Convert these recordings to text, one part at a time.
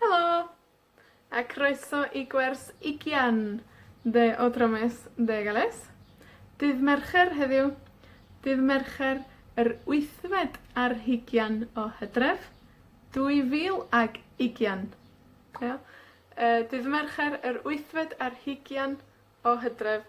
Helo! A croeso i gwers ugian dde o Dro Mes, dde Gales. Dydd Mercher heddiw, dydd Mercher yr wythfed ar hugian o Hydref, 2020. Ia? Yy, dydd Mercher yr wythfed ar hugian o Hydref,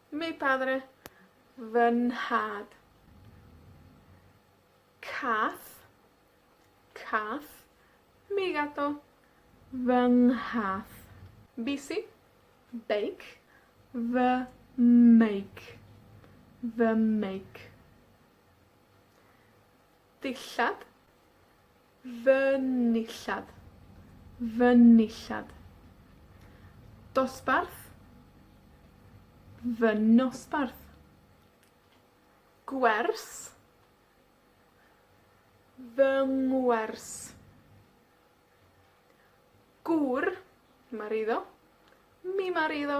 Mi padre, fy nhad. Cath, cath. Mi gato, fy nghath. Bici, beic. Fy meic, fy meic. Dillad. Fy nillad. Fy nillad. Dosbarth. Fy nosbarth. Gwers. Fy ngwers. Gŵr. Ma'r eiddo. Mi ma'r eiddo.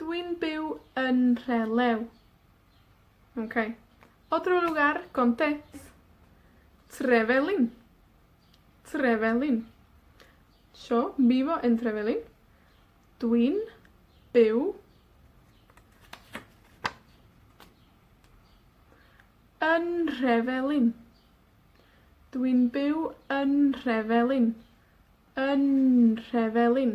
Dw i'n byw yn Nhrelew. Oce. Otro lugar conté. Trevelin. Trevelin. Yo vivo en Trevelin. Dw i'n byw yn Nhrefelin. Dw i'n byw yn Nhrefelin. Yn Nhrefelin.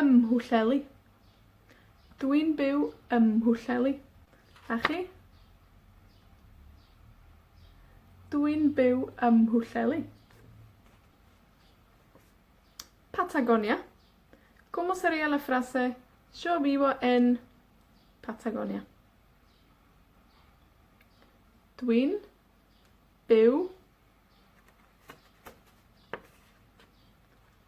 Ym Mhwllheli. Dwi'n byw ym Mhwllheli. A chi? Dwi'n byw ym Mhwllheli. Patagonia. Como sería la frase yo vivo en Patagonia? Dwi'n byw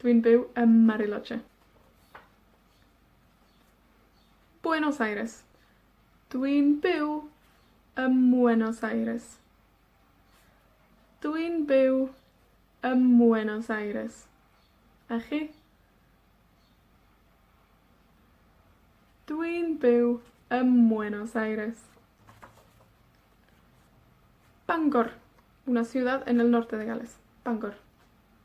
Dwi'n byw ym Mariloche. Buenos Aires. Dwi'n byw ym Mhuenos Aires. Dwi'n byw ym Mhuenos Aires. A chi? Dwi'n byw ym Mhuenos Aires. Bangor. Una ciudad en el norte de Gales. Bangor.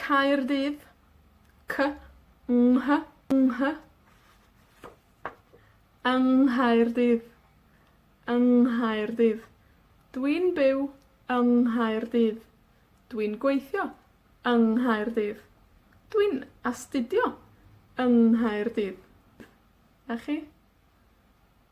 Caerdydd, cy, nghy, ynghy. Yng Nghaerdydd. Yng Nghaerdydd. Dwi'n byw yng Nghaerdydd. Dwi'n gweithio yng Nghaerdydd. Dwi'n astudio yng Nghaerdydd. A chi?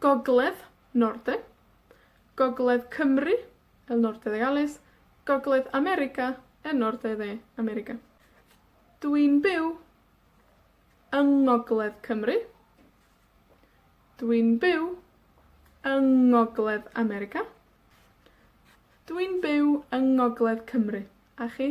Gogledd, Norden. Gogledd Cymru, El Norte de Galles. Gogledd America, El Norte de America. Dwi'n byw yng ngogledd Cymru. Dwi'n byw yng ngogledd America. Dwi'n byw yng ngogledd Cymru. A chi?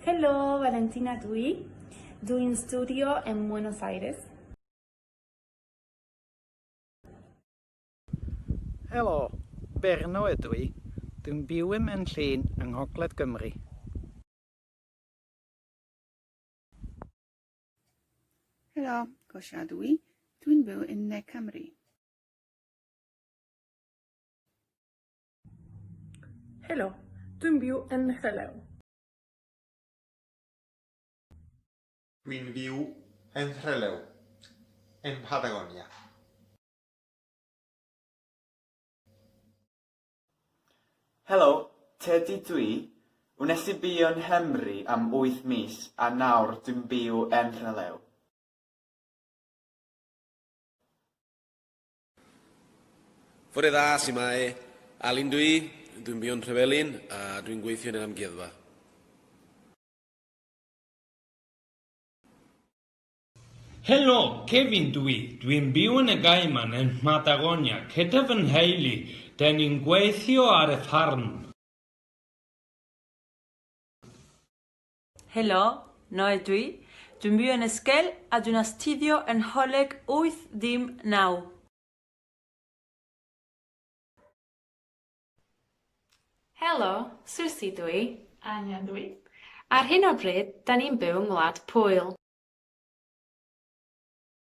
Helo, Valentina dw i. Dw i'n studio ym Mbuenos Aires. Helo, Berno ydw i. Dwi'n byw ym Mhenllyn yng Ngogledd Gymru. Helo, Gosia ydw i. Dwi'n byw yn Ne Cymru. Helo, dwi'n byw yn Nhrylew. Dwi'n byw yn Nhrylew, yn Patagonia. Helo, Tedi dw i. Wnes i byw yn Nghymru am wyth mis a nawr dwi'n byw yn Nhrylew. Fore dda, su'mae? Alun dw i, dwi'n byw'n Nhrevelin a dwi'n gweithio yn yr amgueddfa. Helo, Kevin dw i, dwi'n byw yn y Gaiman yn Mhatagonia gyda fy nheulu, 'dyn ni'n gweithio ar y ffarm. Helo, Noel dwi. Dwi'n byw yn Esquel a dwi'n astudio yn Nholeg wyth dim naw. Helo, Susi dwi. Angen dwi. Ar hyn o bryd, 'da ni'n byw yng Ngwlad Pwyl.